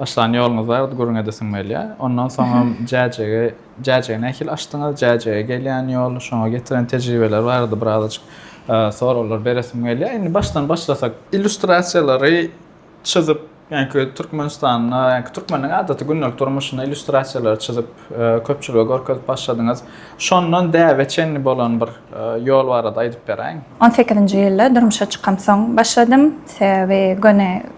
Başlan ýoluňyz bardy, gürrüňe de siňmelýä. Ondan soňam Jäjege, Jäjegi nähili açdyňyz, Jäjege gelýän ýol, şoňa getiren tejribeler barada birazajyk soraglar beresim gelýär. Indi başdan başlasak, illýustrasiýalary çyzyp, ýaňky Türkmenistanda, ýaňky türkmeniň adaty gündelik durmuşynda illýustrasiýalary çyzyp, köpçülige görkezip başladyňyz. Şondan däbe çenli bolan bir ýol barada aýdyp beräýiň. On sekizinji ýylda durmuşa çykamsoň başladym. Sebäbi göni.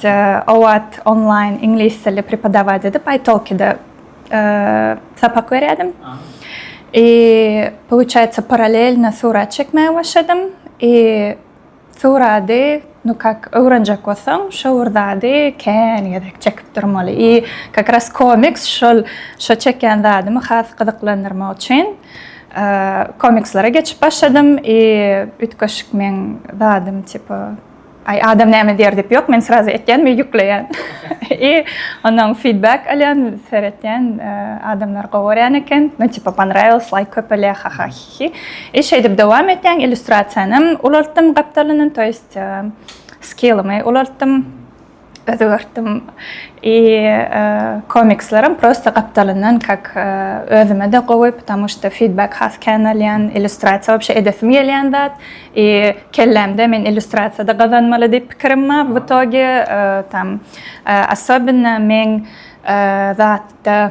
The Owat onlaýn iňlis dili prepodawać edip, italki-de sapak berýärdim. I pouçaýtsa paralelno surat çekmäge başladym. I surady nu kak öwrenjek bolsaň, şo bir zady kän gezek çekip durmaly. I kak ras komiks şol şo çekýän zadymy has gyzyklandyrmak üçin komikslara geçip başladym. I üýtgeşik meň zadym tipo. Aý adam näme diýer diýip ýok men srazy etýän we ýükleýän. I ondan feedback alýan, seretýän adamlar gowy görýän eken. Nu tipa ponrawilos laýk köpelýär ha ha hi hi. I şeýdip dowam etýän illýustrasiýanam ulaltdym gapdalyndan to ýest skillymy ulaltdym. özgertdim. I komikslerim prosta gapdalyndan kak özüme-de gowy, ptamu şto fidbek has kän alýan, illýustrasiýa wapşe edesim gelýän zat. I kellämde men illýustrasiýada gazanmaly diýip pikirim bar. W itogi tam, assobinno meň zatda.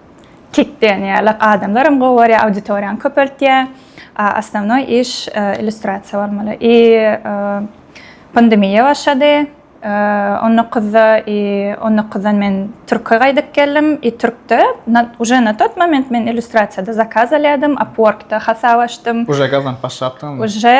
Kik diýen ýaly adamlar hem gowy görýär, auditoriýany köpeltýär. Osnovnoý iş illýustrasiýa bolmaly. I pandemiýa başlady. On dokuzda i on dokuzdan men türke gaýdyp geldim. I türkde uje na tat moment men illýustrasiýada zakaz alýardym, upworkda hasap açdym. Uje gazanyp başlapdyňyzmy? Uje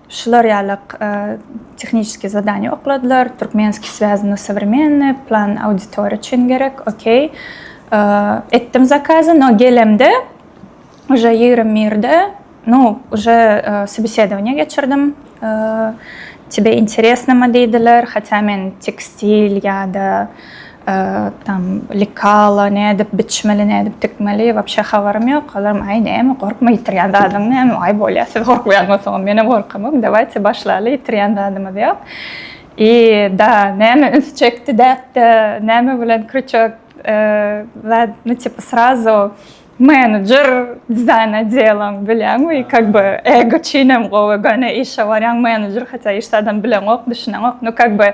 Şular ýaly tehniçeskiý zadaniýa okladylar, Türkmenskiý swazy na sowremenny, plan auditoriýa üçin gerek, okey. Etdim zakazy, no gelemde uje ýigrimi birde, nu uje sobesedowaniýa geçirdim, tebe interesnama diýdiler, hatýa men tekstil ýa-da, Tam likala nädip biçmeli nädip tikmeli wapşe habarym ýok olarym aý näme gorkma ýitirýän zadyň näme aý bolýa siz gorkmaýan bolsaňyz menem gorkamok dawaýte başlaly ýitirýän zadymyz ýok i da näme üns çekdi däpde näme bilen krýuçok zat nu tipa srazo menedjer dizaýn odeloň bilýäňmi i kak by ego çynem gowy göni işe barýaň menedjer hatda işde adam bileňok düşüneňok nu kak by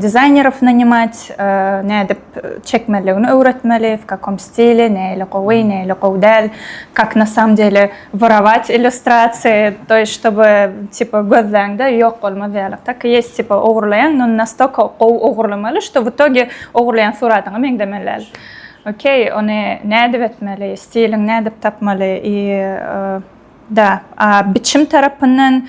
Dizaýnerow nanymat, nädip çekmeliligini öwretmeli, w kakom stili, näili gowy, näili gowy däl, kak na samom dele worować illýustrasiýa, to ýest ştoby tipa gözläňde ýok bolmaz ýaly, tak i ýest tipa ogurlaýaň, no nastolko gowy ogurlamaly, şto w itogi ogurlaýan suratyňa meňzemeli däl. Okey, ony nädip etmeli, stiliňi nädip tapmaly i da, a biçim tarapyndan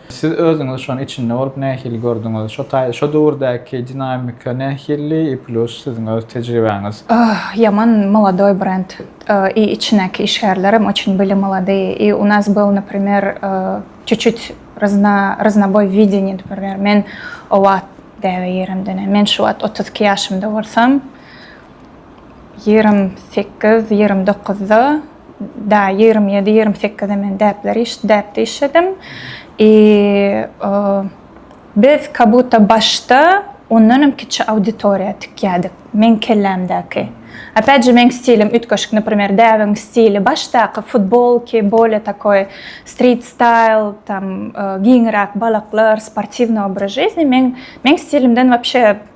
Siz özüňiz şony içinde bolup nähili gördüňiz? Şo taý şo döwürdäki dinamika nähili i plus siziň öz tejribäňiz? Öh ýaman molodoý brend i içinäki işgärlerem oçin byli molodyý i u nas byl naprimer çuçut ryzna ryznaboý wideniý naprimer men o wagt däbe ýerem dene men şu wagt otuz iki ýaşymda bolsam ýigrimi sekiz ýigrimi dokuzda da ýigrimi ýedi ýigrimi sekize men däpler iş däpde işledim i biz kabutta başda ondanam kiçi auditoriýa tikýädik meň kellämdäki opять же meň stilim üýtgeşik naprimer däbiň stili başdaky futbolki bolye takoý strit staýl tam giňiräk balaklar sportiwny obraz žizny meň meň stilimden wapşe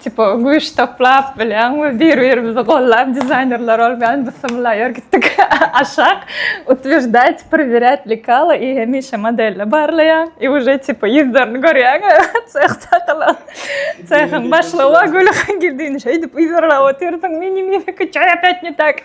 Tipa güýç toplap bilen we bir-birimizi gollap dizaýnerler ol bilen biz symulaýor gitdik aşak utwždajt prwirjat lekala i hemişe modelle barlaýan i uje tipa ýüzlerini görýän sehda gyla sehiň başlygy gülüp gidin şeýdip ýüzürläp otyrsyň mini mini kiçaýa petni tak.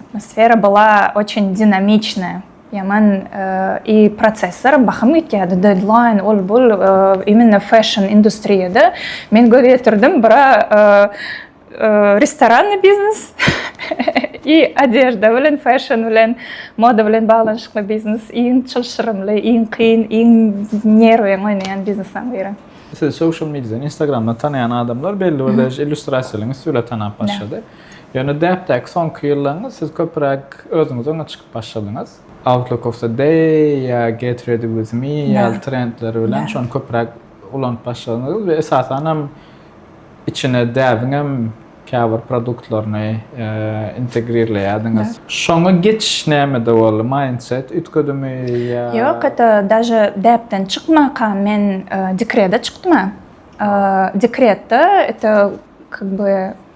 atmosfera bola oçin dinamiçne ýaman i prosesler bahym gitýärdi dedlaýn ol bul imenna fäşn industriýada men göz ýetirdim bura restoranny biznes i adežda bilen fäşn bilen moda bilen baglanyşykly biznes iň çylşyrymly iň kyn iň nerwiň oýnaýan biznesaň biri sizi sosial mediadan instagramdan tanaýan adamlar belli bir derejede illýustrasiýalygyňyz söle tanap başlady. Ýöne däpdäki soňky ýyllaryňda siz köpüräk özüňiz öňe çykyp başladyňyz. Outlook of the day ýa get ready with me ýaly trendler bilen şony köpüräk ulanyp başladyňyz we esasan hem içine däbiň hem käbir produktlaryny integrirleýärdiňiz. Şoňa geçiş nämede boldy? Mindset üýtgedimi ýa? Ýok, hatda daže däpden çykmanka men dekrede çykdym-a. Dekretde, ete kak by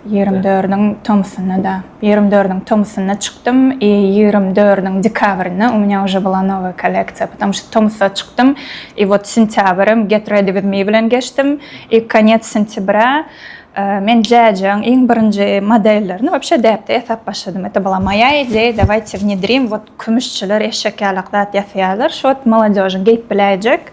Ýigrimi dördüniň tomusynda-da, ýigrimi dördüniň tomusynda çykdym i ýigrimi dördüniň dekabrynda, u mnýa uje bula nowaýa kolleksiýa, patamu şo tomusda çykdym i wot sentýabrym Get Ready With Me bilen geçdim i konýet sentýbra men Jazz-yň iň birinji modellerini wobşe däpde ýasap başladym. Ete bula moýa ideýa, dawajte wnedrim, wot kümüşçiler eşek ýalak zat ýasaýarlar, şo wot molodýožyň geýip biläýjek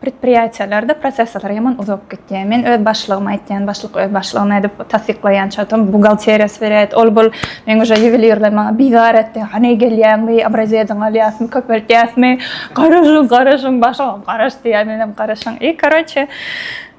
Predpriýatiýalarda prosessorlar ýaman uzak gitýär. Men öz başlygyma aýtýan, başlyk öz başlygyna edip tassyklaýan çatam buhgalteriýa swiret, ol bul meň uje ýuwelirler maňa bizar etdi. Hany gelýäňmi, obraziýadyňy alýasmy, köpeltýäsmi? Garaşyň, garaşyň, başygam garaşdy ýa menem garaşyň. I karoçe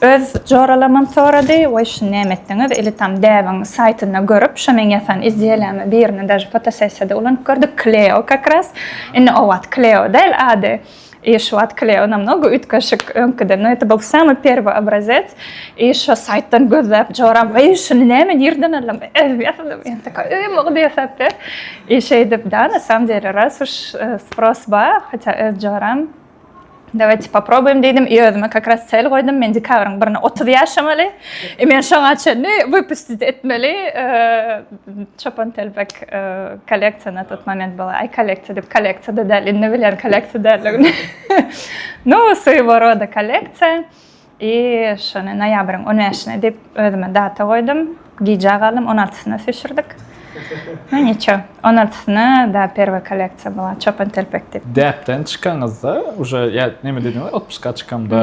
Öz joralamam sorady, Woý şuny näme etdiňiz, ili tam däbiň saýtynda görüp, şo meň ýasan izdiýeleme birini daže fotosessiýada ulanyp gördük, Kleo kak ras, indi o wagt Kleo däl ady, i şu wagt Kleo namnogo üýtgeşik öňkiden, nu eti bul samyý perwy obrazec, i şo saýtdan gözläp joram, Woý şuny näme nirden aldym, özüm ýasadym, ýa taka özüm ogdy ýasap ber, i şeýdip da na samom dele ras uş spros bar, hatda öz joram. Dawajte poprobuýym diýdim. I özüme kak raz sel goýdum. Men dekabryň birine 30 ýaşamaly. I men şoňa çenli wypustit etmeli. Çopan telpek kolleksiýa na tut moment bola. Aý kolleksiýa diýip kolleksiýa-da däl. Indi bilýän kolleksiýa däldigini. No, swýewo roda kolleksiýa. I şony noýabryň on bäşine diýip özüme data goýdum. Gijä galdym, on altysyna süýşürdik. Nu niço, on altysyna da perwoý kolleksiýa bolar, çopan telpek diýip. Däpden çykanyňyzda uje ýa neme diýdiňiz, otpuska çykamda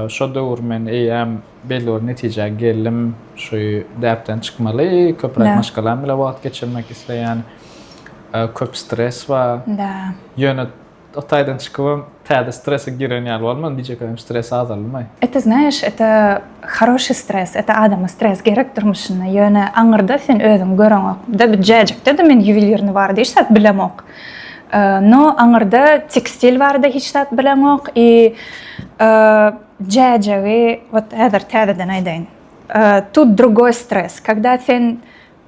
şo döwür men eýýäm belli bir netijä geldim, şu däpden çykmaly, köpräk maşgalam bilen wagt geçirmek isleýän, köp stres bar. Ýöne O taýdan çykybam täze strese giren ýaly bolman bijek hem stresi azalmaý. Ete znaýaş ete haroşi stres ete adama stres gerek durmuşynda ýöne aňyrda sen özüň göreňok da bir jäjekde de men ýuwelirni barada hiç zat bilemok no aňyrda tekstil barada hiç zat bileňok i jäjegi wot häzir täzeden aýdaýyn tut drugoý stres kagda sen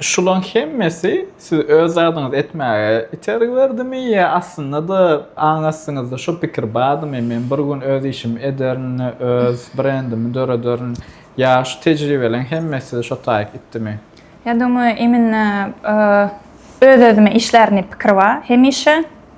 Şulaň hemmesi sizi öz zadyňyzy etmäge itergi berdimi ýa aslynda-da aň astyňyzda şu pikir bardymy, men bir gün öz işimi ederin, öz brendimi dörederin ýa şu tejribeleriň hemmesi sizi şo taýyk itdimi? Ýa-da oňa emin öz-özüme işlärin diýip pikir bar hemişe.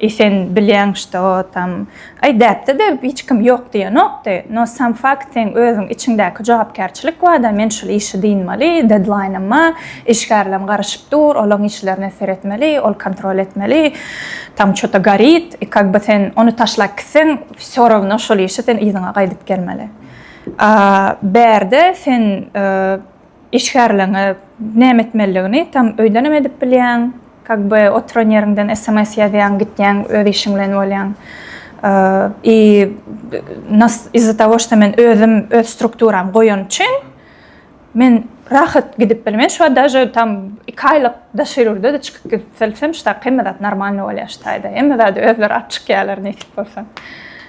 I sen bilýäň što tam Aý däpde-de hiç kim ýok diýenokdy, no sam fakt seň özüň içiňdäki jogapkärçilik bada men şul işi dynmaly, dedlaýnym ba, işgärlem garyşyp dur, olaň işlerine seretmeli, ol kontrol etmeli, tam çota gorit, i kak by sen ony taşlap gitseň vsё rawno şul işi sen yzyňa gaýdyp gelmeli. A bärde sen Işgärleňe näme etmelidigini tam öýdenem edip bilýäň, kag be oturan ýeriňden sms ýazýaň gitýäň öz işiň bilen bolýaň. I nas iz za tago şto men özüm öz strukturam goýan üçin men rahat gidip bilmen şu wagt daže tam iki aýlyk daş ýurda da çykyp gidip bilsem ştag hemme zat normalny bolýar ştaýda hemme zady özleri alyp çykýarlar nesip bolsa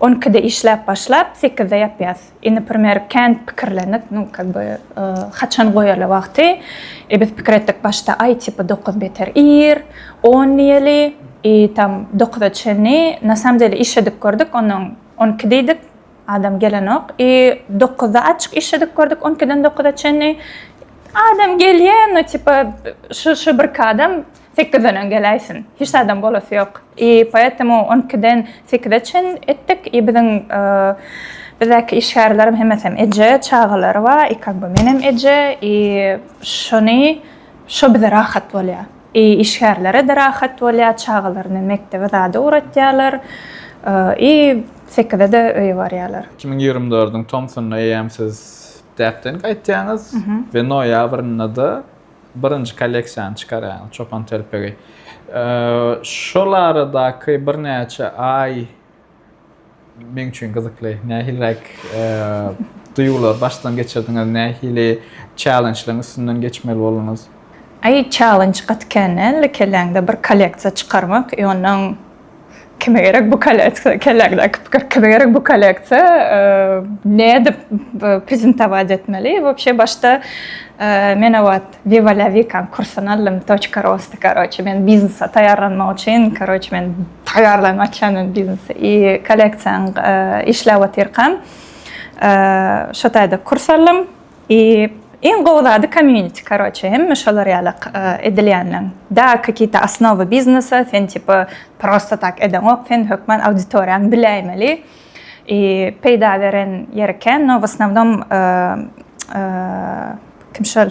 On ikide işläp başlap, sekizde ýapýas. I naprimer, kän pikirlendik, nu, kak by, haçan goýarly wagty. I biz pikir etdik, başda, aý, tipa, dokuz beter ir, on diýeli, I tam dokuza çenli, na samom dele işledip gördük, onnoň on iki diýdik, adam gelenok. I dokuzda açyk işledip gördük, on ikiden dokuza çenli, adam gelýä, nu, tipa, şu, şu birki adam. Sekizdenem geläýsin. Hiç zadam bolasy ýok. I poetemu on ikiden sekize çen etdik. I biziň bizdäki işgärleriň hemmesem eje, çagalary bar. I kak by menem eje. I şony şo bize rahat bolýar. I işgärlere-de rahat bolýar. Çagalaryny mekdebe zada ugratýarlar. I sekizede öýe barýarlar. Iki müň ýigrimi dördüň tomsunda eýýäm siz däpden gaýtýaňyz we noýabrynda-da birinji kolleksiýany çykarýan çopan telpegi. Şol aradaky birnäçe aý meň üçin gyzykly. Nähiliräk duýgular başdan geçirdiňiz, nähili çälençleriň üstünden geçmeli bolduňyz? Aý, çälenç gaty kän däldi. Kelläňde bir kolleksiýa çykarmak, ýonuň kime gerek bu kolleksiýa, kelläňdäki pikir, kime gerek bu kolleksiýa, e, nädip prezentowat etmeli? Wobşe başda e, men awat Viva la Vikan kursuny aldym, toçka rosta, karoçe, men biznesa taýýarlanmak üçin, karoçe, men taýýarlan açýan men biznesi. I kolleksiýaň e, işläp otyrkam, e, şo taýda kurs aldym. I iň gowy zady community karoçe hemme şolar ýala edilýänden da kakita asnowy biznesa sen tipa prosta tak edeňok sen hökman auditoriýaň biläýmeli i peýda beren ýeri kän no w osnovnom kim şol.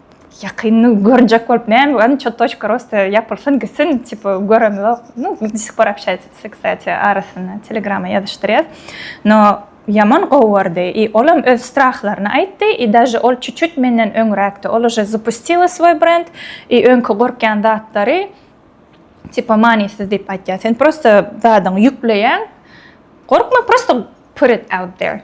Ýakynda görjek bolup näme bar ço toçka rosta ýapylsyn gitsin tipa göremzok nu dissik bar apşaýsitsi ksati arasynda telegrama ýazyşdyrýas no ýaman gowy bardy i olam öz strahlaryny aýtdy i daže ol çu çut menden öňräkdi ol uje zapustila svoý brend i öňki gorkýan zatlary tipa manysyz diýip aýtýar sen prosta zadyňy ýükleýäň gorkma prosta put it out there.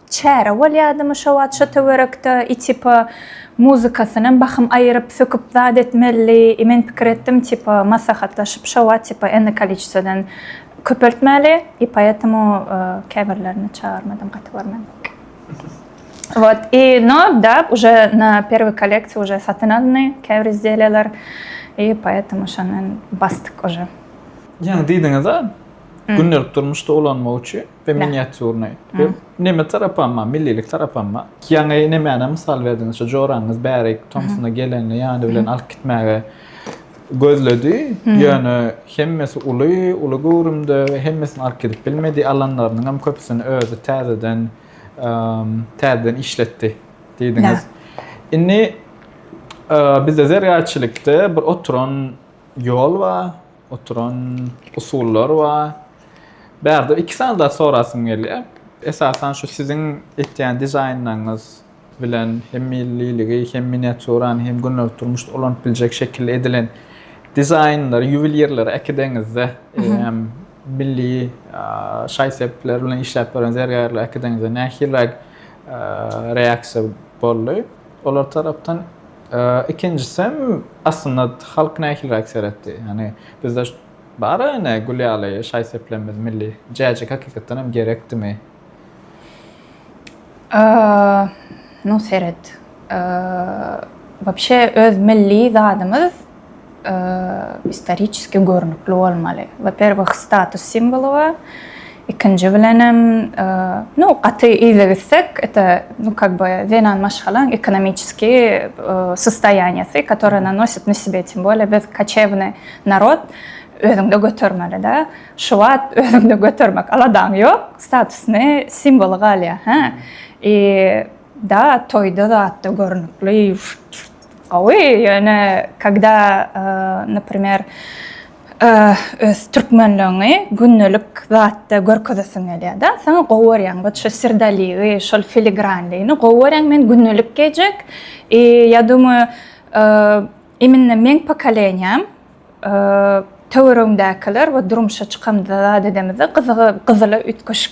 Çäre bolýadymy şo wagt şo töwerekde i tipa muzykasynam bahym aýyryp söküp zat etmelidi i men pikir etdim tipa maslahatlaşyp şo wagt tipa enli koliçesodan köpeltmäli i poetemu käbirlerini çagyrmadym gaty görmedik wot i no da uje na perwiý kolekciýa uje satyn alny käbir izdelýalar i poetemu şondan basdyk uje. Ýaňy diýdiňiza gündelik durmuşda ulanmak üçin. we miniatýurny we neme tarapama, millilik tarapama. Ýaňy nemäni mysal berdiňiz, şu joraňyz bäri tomsuna gelende ýany bilen alyp gitmäge gözledi, ýöne hemmesi uly, uly göwrümde we hemmesini alyp gidip bilmedi, alanlarynyň hem köpüsini özi täzeden, täzeden işletdi diýdiňiz. Indi bizde zergärçilikde bir oturan ýol bar. oturan usullar bar. Bärde iki sany zat sorasym gelýär. Esasan şu siziň etýän dizaýnlaryňyz bilen hem milliligi, hem miniaturany, hem gündelik durmuşda ulanyp biljek şekilde edilen dizaýnlary ýuwelirlere äkideňizde, eýýäm milli şaý-sepler bilen işläp ýören zergärlere äkideňizde nähiliräk reaksiýa boldy olar tarapdan? Ikinjisem, aslynda halk nähiliräk seretdi? Ýagny bizde bar-a ine gül ýaly şaý-seplerimiz milli. Jäjik hakykatdan hem gerekdimi? Ynha seret. Wapşe öz milli zadymyz istoriçeski görnükli bolmaly. Waperwih status simwoly bar. Ikinji bilenem nu gaty yza gitsek eta nu kak by zenan maşgalaň ekonomiçeski sostoýaniýasy katory na nosit na sebe etsin bolýa biz kaçewny narod özüňde götermeli da şu wagt özüňde götermek aladaň ýok statusny simwoly galýa hä i da toýda zatda görnükli. Gowy, ýöne kogda naprimer öz türkmenligiňi gündelik zatda görkezesiň gelýärda, saňa gowy görýän wot şu srdaligi, şol filigranligini gowy görýän men gündelik geýjek i ýa dumay iminna meň pokoleniýam töweregiňdäkiler wot durmuşa çykamyzda zat edemizde gyzygy gyzyla üýtgeşik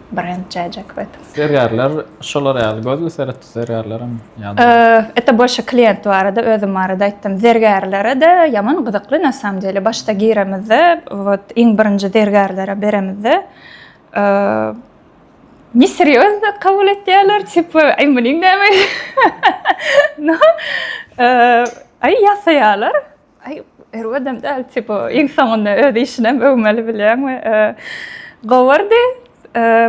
brend çäjek bet. Zergärler şolar ýaly gözli seret zergärlerem ýa-da. Ete bolşa klient barada özüm barada aýtdym. Zergärlere de ýaman gyzykly na samym dele başda giremizde wot iň birinji zergärlere beremizde ne serýozno kabul etýärler tipa aý munyň näme no aý ýasaýarlar Aý, erbedem däl, tipo, iň soňunda öz işinem öwmeli bilýäňmi? Gowardy.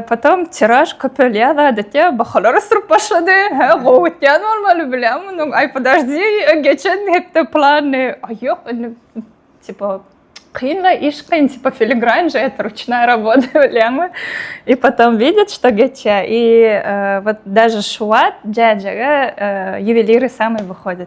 Potom tiraj köpelýär, adatça bahalar ösüp başlady. Hä, gowy gitýän bolmaly bilýäňmi? Mundan aý, podajdi, geçen hepde plany. Aý, ýok, indi, tipo, kyn-la, iş kyn, tipo, filigrain je et, ruçnaý robota, bilýäňmi? I potom widýa, çto geçýär. I, wot, daže şu wagt jäjege ýuweliri samy wyhodýa.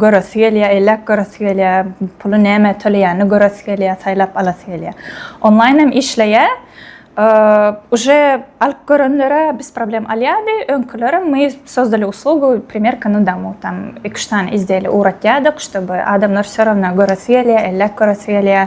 Göresi gelýär, elläp göresi gelýär, puly nämä töleýänini göresi gelýär, saýlap alasy gelýär. Onlaýn hem işleýär. Uje alyp görenlere biz problem alýardy. Öňkülerem my sozdali uslugu primerka na domu tam iki-üç sany izdeýli ugratýardyk, ştoby adamlar söranna göresi gelýär, elläp göresi gelýär.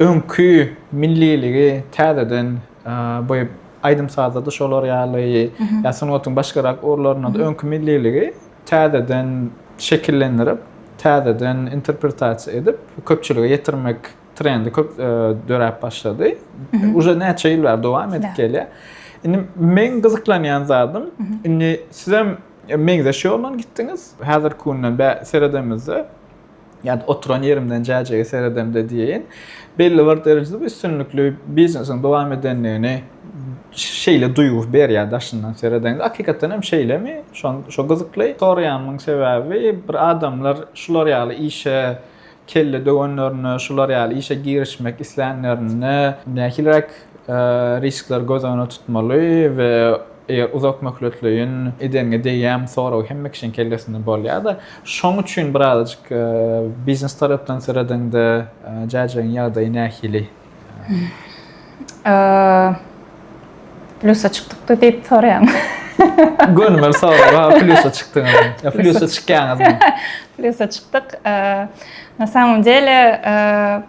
öňki milliligi täzeden bu aýdym-sazda-da şolar ýaly ýa sungatyň başgarak ugurlarynda-da öňki milliligi täzeden şekillendirip, täzeden interpretasiýa edip, köpçülige ýetirmek trendi köp döräp başlady. Uje näçe ýyl bäri dowam edip gelýär. Indi meň gyzyklanýan zadym, indi sizem meňzeş ýoldan gitdiňiz. Häzirki günde seredemizde, Ýa-da oturan ýerimden jäjege seredemde diýeýin. Belli bir derejede bu üstünlikli biznesiň dowam edendigini şeýle duýgy berýär daşyndan seredeňde. Hakykatdan hem şeýlemi? Şon şo gyzykly. Soraýanymyň sebäbi bir adamlar şular ýaly işe kelle döwenlerinde, şular ýaly işe girişmek islänlerinde nähiliräk riskleri göz öňünde tutmaly we Eger uzak möhletleýin edeňe degýämi sorag hemme kişiň kellesinde bolýar-da. Şoň üçin birazajyk biznes tarapdan seredeňde Jäjegiň ýagdaýy nähili? Plýusa çykdykdy diýip soraýaňmy? Gönümel sorag, ha plýusa çykdyňyzmy? Ýa plýusa çykýaňyzmy? Plýusa çykdyk. Na samom dele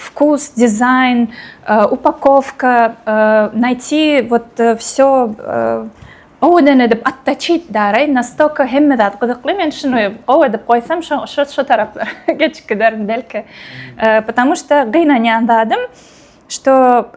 Wkus, dizaýn, upakowka, naýti wot wsё gowudan edip ottaçit daraý, nastoko hemme zat gyzykly, men şuny gowy edip goýsam şo taraplara geçip giderin belki, patamuşda gynanýan zadym şto.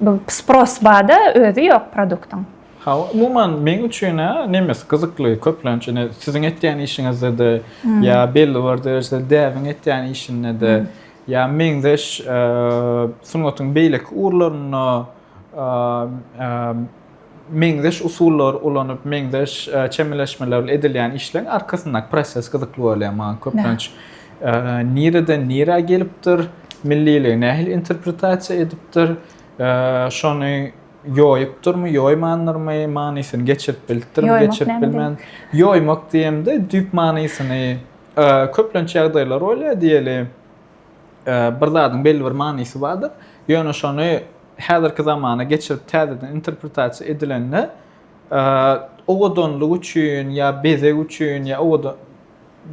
Bu spros bada özi ýok produktyň. Hawa umuman meň üçinä nemes gyzykly köplenç ine siziň etýän işiňizdede ýa belli bir derejede däbiň etýän işindede ýa meňzeş sungatyň beýleki ugurlarynda meňzeş usullary ulanyp, meňzeş çemeleşmeler bilen edilýän işleriň arkasyndaky proses gyzykly bolýar maňa köplenç. Nireden nirä gelipdir, milliligi nähili interpretasiýa edipdir, şony ýoýupdyrmy, ýoýmandyrmy, manysyny geçirip bilipdirmi, geçirip bilmen. Ýoýmak diýemde düýp manysyny köplenç ýagdaýlar bolýar diýeli. Bir zadyň belli bir manysy bardyr. Ýöne şony häzirki zamana geçirip täzeden interpretasiýa edilende owadanlyk üçin ýa bezeg üçin ýa owadan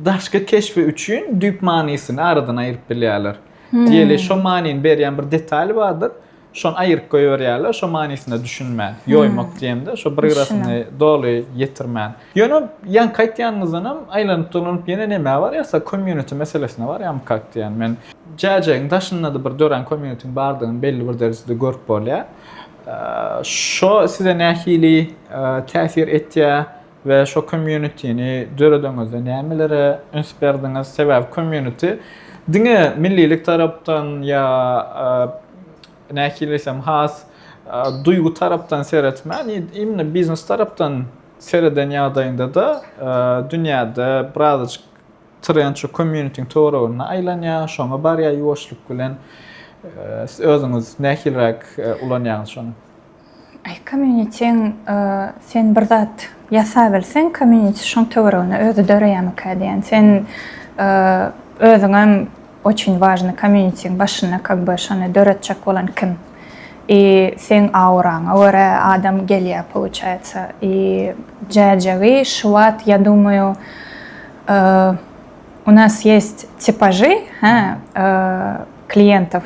daşky keşbi üçin düýp manysyny aradan aýryp bilýärler. Diýeli şo manyny berýän bir detal bardyr. Şony aýyryp goýberýärler, şo manysyna düşünmän. Ýoýmak diýemde, şo bir gyrasyny doly ýetirmän. Ýöne ýaňky aýtýanyňyzdanam aýlanyp-dolanyp ýene nämä barýarsa, community meselesine barýarmykak diýýän men. Jäjägiň daşynda-da bir dörän community-niň bardygyny belli bir derejede görüp bolýar. Şo size nähili täsir etýär? We şo community-ni döredeňizde nämelere üns berdiňiz? Sebäbi community diňe millilik tarapdan ýa nähili diýsem has duýgy tarapdan seretmän imni biznes tarapdan sereden ýagdaýyňda-da dünýäde birazajyk trend şo community-niň töwereginde aýlanýar, şoňa barýar ýuwaşlyk bilen. Siz özüňiz nähiliräk ulanýaňyz şony? Aý community-ň sen bir zat ýasabilseň community şoň töweregine özi döreýämikä diýýän. Sen özüňem oçin wažny community-ň başynda kag be şony döretjek bolan kim i seň auraňa görä adam gelýä pouçaýatsa i jäjegi şuwat ýa dumaýu u nas ýest tipajy hä kliýentow.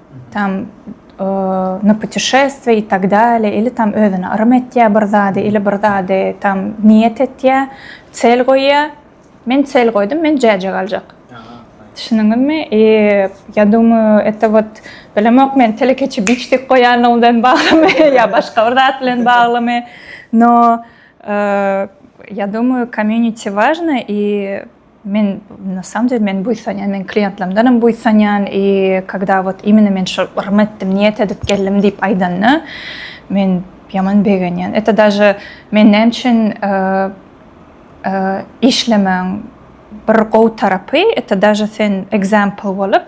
Tam na putişestwiýe i tak dalýa ili tam özüne yrym etýä bir zady ili bir zady tam niýet etýä, çel goýýa. Men çel goýdum, men jäje galjak. Düşündiňizmi? I ýa dumýa eta wot bilemok men telekeçi biçdik goýanlygy bilen baglymy ýa başga bir zat bilen baglymy. No ýa dumýa komýuniti wažna i Men na samym dele men buýsanýan, men kliýentlerimdenem buýsanýan i kogda wot imine men şol yrym etdim, niýet edip geldim diýip aýdanda men ýaman begenýän. Ete daže men näme üçin işlemäň bir gowy tarapy ete daže sen example bolup,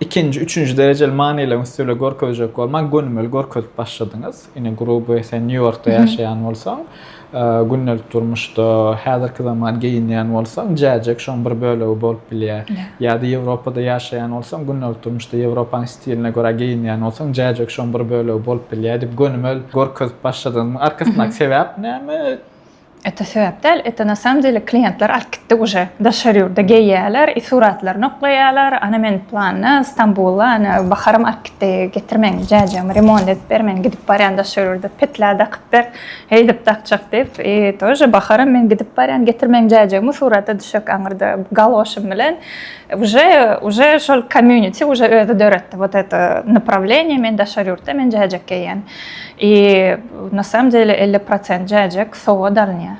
Ikinji, üçünji derejeli manylaryň üstüle görkezjek bolman gönümel görkezip başladyňyz. Ine gruby sen Nýu-Ýorkda ýaşaýan bolsaň, gündelik durmuşda häzirki zaman geýinýän bolsaň, jäjek şoň bir bölegi bolup bilýär. Ýa-da Ýewropada ýaşaýan bolsaň, gündelik durmuşda Ýewropanyň stiline görä geýinýän bolsaň, jäjek şoň bir bölegi bolup bilýär diýip gönümel görkezip başladyňyzmyň arkasyndaky sebäp näme? Ete sebäp däl, ete na samom dele kliýentler alyp gitdi uje, daşary ýurda geýýärler, suratlaryny oklaýarlar, ana men planda, Stambula, ana Baharym alyp gitdi, getirmeň, jäjegimi remont edip ber, men gidip barýan daşary ýurda, petlä dakyp ber, heýdip dakjak diýip, i tóže Baharym men gidip barýan, getirmeň jäjegimi, surata düşek aňyrda galoşym bilen, uje, uje şol komýuniti uje özi döretdi, wot eto naprawleniýe, men daşary ýurtda, men jäjek geýýän. I na samom dele elli prosent jäjek sowgat alynýar.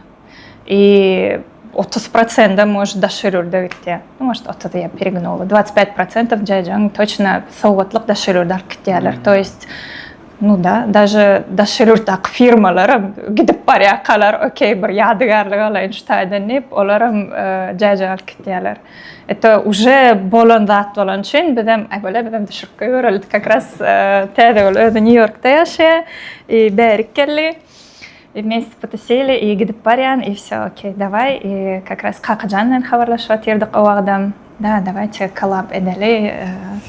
I otuz prosendem mož daşary ýurda gitýär. Nu mož otuz ýa perignowy dwacyt pät prosentov jäjegiň toçna sowgatlyk daşary ýurda alyp gitýärler. To ýest nu da daže daşary ýurtdaky firmalaram gidip barýarkalar okey bir ýadygärlik alaýyn şu taýdan diýip olaram jäjek alyp gitýärler. Eto uje bolan zat bolan üçin bizem aý bole bizem düşürip goýbereli. Kakras täze bol özi New Yorkda ýaşaýar. I bärik geldi. I men spotesili i gidip barýan i wsё okey dawai i kakras Kakajan bilen habarlaşyp atyrdyk o wagtam. Da dawai çek kolab edeli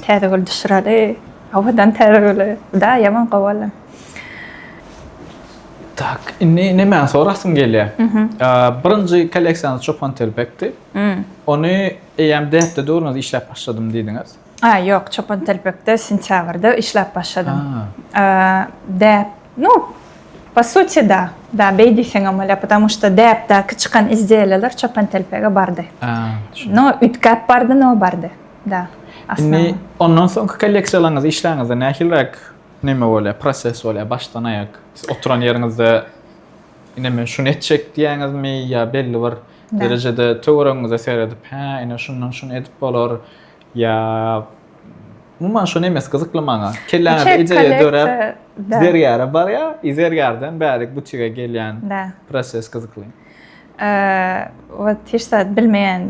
täze bol düşüreli owadan täze bolu. Da ýaman gowy boldy. Tak indi nämäni sorasyň gelýär. Birinji kolleksiýany Çopan Telbekdi. Ony eýýäm däpde döwrüňiz işläp başladym diýdiňiz. A, ýok, Çopantelpekde sentýabrda işläp başladym. Däp, nu, po suti, da, da, beý diýseňem bolýar, потому что däpdäki çykan izdiýeler Çopantelpege bardy. No, üýtgäp bardy, no, bardy, da. Indi ondan soňky kolleksiýalaryňyzy işläňizde nähiliräk näme bolýar, proses bolýar, başdan aýak? Siz oturan ýeriňizde, ine, men şuny etjek diýýäňizmi ýa belli bir. derejede töweregiňize seredip, hä, ine şundan şuny edip bolar, ýa umuman şuny emes gyzykly maňa, kelläňizde ideýa döräp, zergäre barýar, i zergärden bärik butige gelýän proses gyzykly. Wah, hiç zat bilmeýän.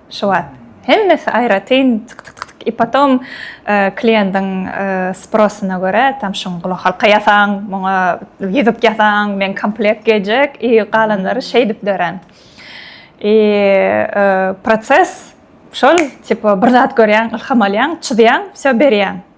Şu wagt hemmesi aýratyn tyk-tyk-tyk-tyk i potom kliýendiň sprosyna görä tam şuň gulakhalka ýasaň, muňa ýüzük ýasaň, meň komplekt geljek i galanlary şeýdip dörän. I proses şol, tipa bir zat görýäň, ylham alýaň, çyzýaň, wsýo berýäň.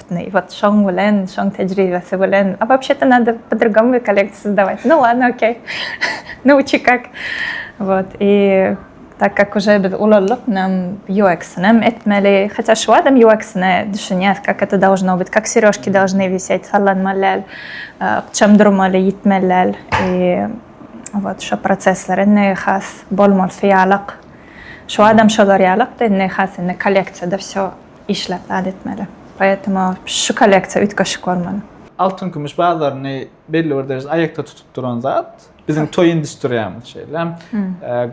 Şitney wot şoň bilen, şoň tejribesi bilen, a wobşe to nado po drugomu kolekciýa sozdawaýt, nu ladno okey, nauçi kak, wot i tak kak uje biz ulaldyk, nam ýueksinem etmeli, hatýa şu wagtam ýueksine düşünýäs, kak eto dowžno byt, kak serýožki dowžny wiseýt, sallanmaly däl, ykjam durmaly, ýitmeli däl, i wot şo prosesler indi has bolmalysy ýalak, şu wagtam şolar ýalak-da, indi has indi kolekciýada wsýo. Işläp zat etmeli. Poetому şu kolleksiýa üýtgeşik bolmaly. Altyn-kümüş bazaryny belli bir derejede aýakda tutup duran zat biziň toý industriýamyz. Şeýle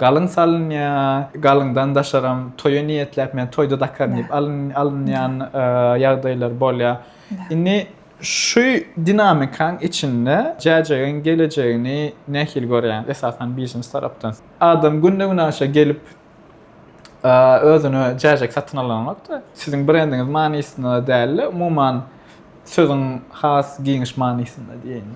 galyň salynýar, galyňdan daşaram toýa niýetläp, men toýda dakaryn diýip alynýan ýagdaýlar bolýar. Indi şu dinamikaň içinde Jäjegiň gelejegini nähili görýäňiz, esasan, biznes tarapdan? Adam günde-günaşa gelip, özüne jäjek satyn alanokda. Siziň brendiňiz manysynda däl-de, umuman sözüň has giňiş manysynda diýeýin.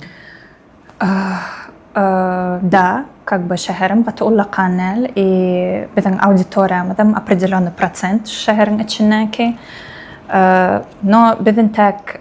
Da, как бы şäherim gaty ullakan däl. I biziň auditoriýamyzam opredelennyi prosent şu şäheriň içindäki. No biz intäk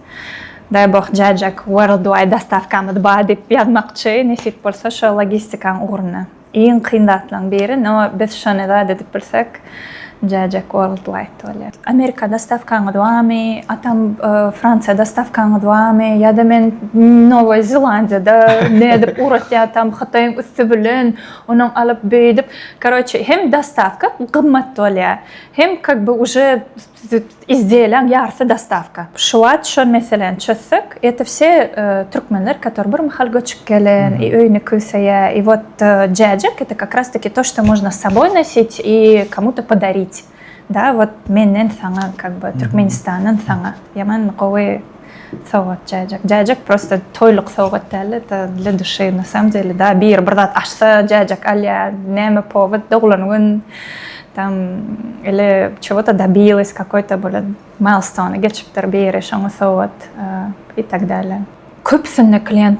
Daýboh Jajak Worldwide dostawkamyz bar diýip ýazmakçy nesip bolsa şo logistikaň ugruna. Iň kyn zatlaň biri no biz şony zat edip bilsek Jajak Worldwide bolýar. Amerika dostawkaňyz barmy? Atam Fransiýa dostawkaňyz barmy? Ýada men Nowoý Zelandiýada nädip ugratýatam Hytaýyň üsti bilen onuň alyp beýdip karoçe hem dostawka gymmat bolýar hem kak be uje Izdiýeleň ýarsy dostawka. Şu wagt şol meseläni çözsek, eto wse türkmenler, kator bir mahal göçüp gelen i öýüni küseýä i wot jäjek, eto kak ras taki to što možna s soboý nosit i komu to podarit, da wot menden saňa kak by türkmenistandan saňa. Ýaman gowy. Sowgat jäjek. Jäjek prosta toýluk sowgat dälde da dla dushi na samom dele da biri bir zat açsa jäjek alýa näme powod doglan gün tam ili çewota dabilis kakoý to bola mailstony geçipdir biri şoňa sowgat i tak dälä. Köpüsinde klient